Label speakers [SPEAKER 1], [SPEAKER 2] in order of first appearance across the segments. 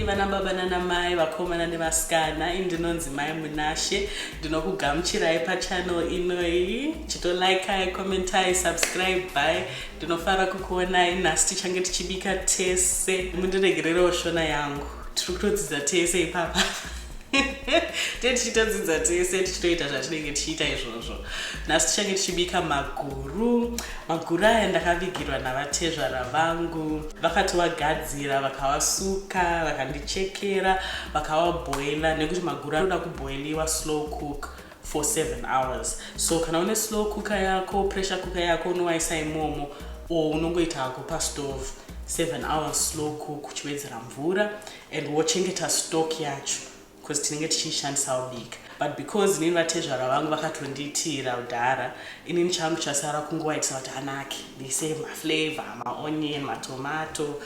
[SPEAKER 1] Mai vana baba nana mai vakomana nevasikana indinonzi mai munashe ndinokugamuchirai pachannel inoyi chitolikai commentai subscribe by ndinofara kukuonai nhasi tichange tichibika tese mundiregererewo shona yangu tiri kutodzidza tese ipapa tee tichitodzidza tese tichitoita zvatinenge tichiita izvozvo nhasi tichange tichibika maguru maguru aya ndakavigirwa navatezvara vangu vakati wagadzira vakawasuka vakandichekera vakawabhoila nekuti maguru anoda kubhoiliwa slow cook for seven hours so kana une slow cooker yako pressure cooker yako unowaisa imomo or unongoita hako pastove seven hours slow cook uchiwedzera mvura and wochengeta stock yacho because tinenge tichiishandisa ubika but because inini vatezvara vangu vakatondiitira udhara inini changu chasara kungowaitisa kuti anake ndiise maflavor maonion matomato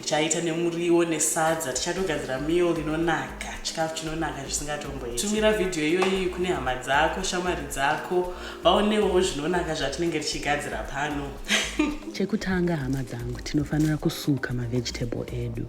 [SPEAKER 1] ndichaita nemuriwo nesadza tichatogadzira meal inonaka chikafu chinonaka zvisingatomboitumira vhidhiyo iyoyi kune hama dzako shamwari dzako vaonewo zvinonaka zvatinenge tichigadzira pano chekutanga hama dzangu tinofanira kusuka mavegetabe edu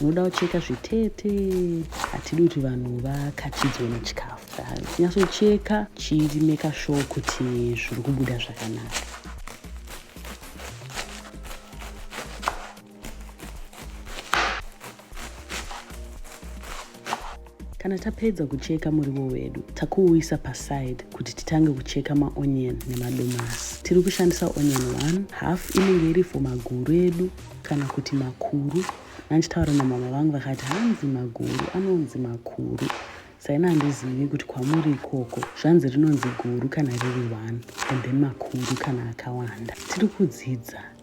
[SPEAKER 1] unoda kucheka zvitete hatidi kuti vanhu vakachidzwe nechikafu nyatsocheka chimeka show kuti zviri kubuda zvakanaka Kana tapedza kucheka muriwo wedu, takuuisa paside kuti titange kucheka maonion nemadomasi. Tiri kushandisa onion 1 half inenge iri for maguru edu kana kuti makuru. Nanchitaura namama vangu vakati hanzi maguru anonzi makuru saina handizivi kuti kwamuri ikoko zvanzi rinonzi guru kana riri one and then makuru kana akawanda tiri kudzidza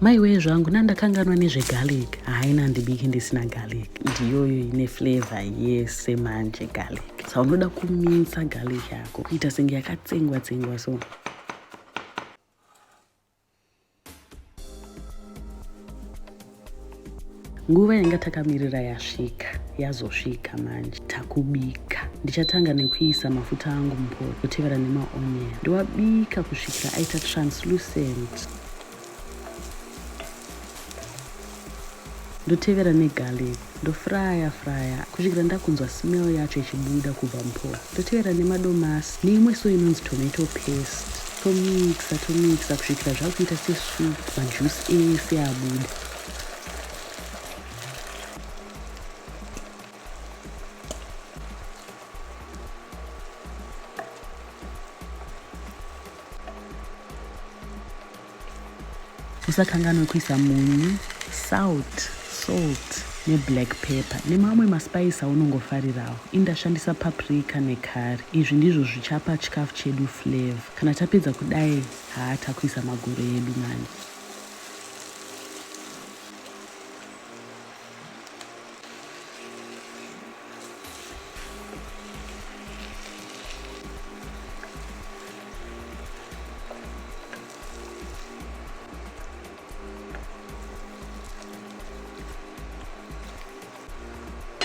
[SPEAKER 1] maiwee zvangu nandakanganwa nezvegarlic haina handibiki ndisina garlic ndiyoyo ine flavor yese manje garlic sa unoda kuminsa garlic yako kuita senge yakatsengwa tsengwa so nguva yanga takamirira yasvika yazosvika manje takubika ndichatanga nekuisa mafuta angu mupoto kutevera nemaonion ndowabika kusvikira aita translucent ndotevera negarlic Ndofraya fraya kusvikira ndakunzwa smell yacho ichibuda kubva muphola. Ndotevera nemadomasi neimwe so inonzi tomato paste. Tomixa tomixa kusvikira zvakuita sesoup majuice ese abuda. usakanganwe kuisa munyu salt salt neblack pepper nemamwe maspice aunongofarirawo ini ndashandisa paprika necurry izvi ndizvo zvichapa chikafu chedu flavor kana tapedza kudai haa takuisa maguru edu mani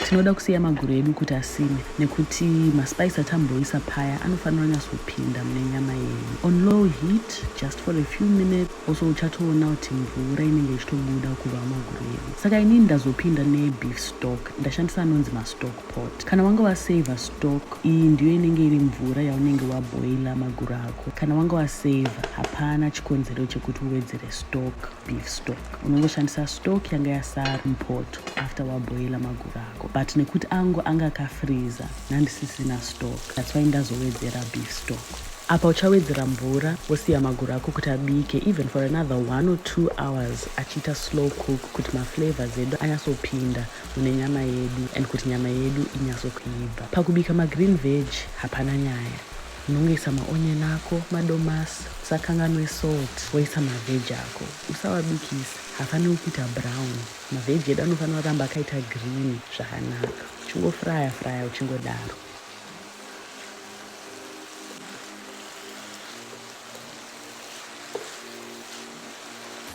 [SPEAKER 1] tinoda kusiya maguru edu kuti asime nekuti maspice atamboisa paya anofanira kunyatsopinda mune nyama yedu on low heat just for a few minutes also uchatoona kuti mvura inenge ichitobuda kubva mumaguru edu saka inini ndazopinda nebeef stock ndashandisa anonzi mastock pot kana wanga wasaver stock iyi ndiyo inenge iri mvura yaunenge waboila maguru ako kana wanga wasaver hapana chikonzero chekuti uwedzere stock beef stock unongoshandisa stock yanga yasara mupoto after waboila maguru ako but nekuti angu anga akafreeza nandisisina stock that's why ndazowedzera beef stock Apa uchawedzera mvura wosiya maguru ako kuti abike even for another one or two hours achiita slow cook kuti maflavors edu anyatsopinda mune nyama yedu and kuti nyama yedu inyatsokuibva. Pakubika magreen veg hapana nyaya. Unongoisa maonion ako, madomasi, usakanganwe salt woisa maveg ako. Usawabikise, haafaniri kuita brown. Maveg edu anofanira kuramba akaita green zvakanaka. Uchingofryer fryer uchingodaro.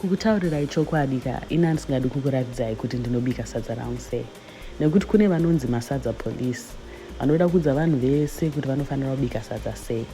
[SPEAKER 1] kukutaurirai chokwadi ka ini handisingadi kukuratidzai kuti ndinobika sadza rangu sei nekuti kune vanonzi masadza police vanoda kuudza vanhu vese kuti vanofanira kubika sadza sei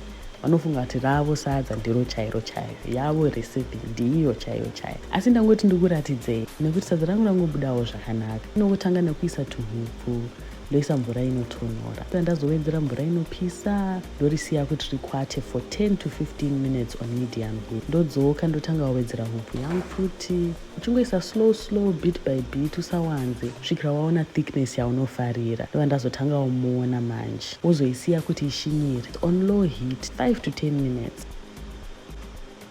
[SPEAKER 1] vanofunga kuti ravo sadza ndiro chairo chairo yavo recipe ndiyo chairo chairo asi ndangoti ndikuratidzei nekuti sadza rangu rangobudawo zvakanaka inongotanga nekuisa tuhupfu ndoisa mvura inotonhora ndazowedzera mvura inopisa ndorisiya kuti rikwate for 10 to 15 minutes on medium heat ndodzoka ndotanga wawedzera hupu yangu futi uchingoisa slow slow bit by bit usawanze svikira waona thickness yaunofarira ndova ndazotanga umuona manje wozoisiya kuti ishinyire on low heat 5 to 10 minutes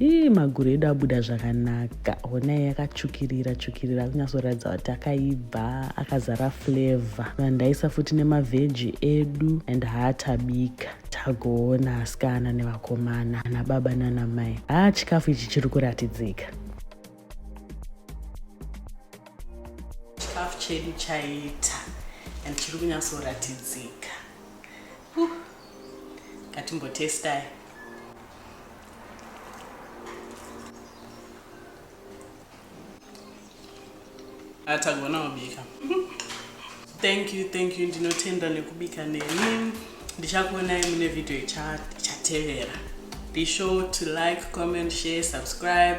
[SPEAKER 1] ii maguru edu abuda zvakanaka honai akatsvukirira tsvukirira kunyasoratidza kuti akaibva akazara flavor vandaisa futi nemavheji edu and haatabika tagoona asikana nevakomana ana baba nana mai haa chikafu ichi chiri kuratidzika chikafu chedu chaita and chiri kunyatsoratidzika ngatimbotestai atagona kubika thank you thank you ndinotenda nekubika neni ndichakuonai mune vhidhiyo ichatevera be sure to like comment share subscribe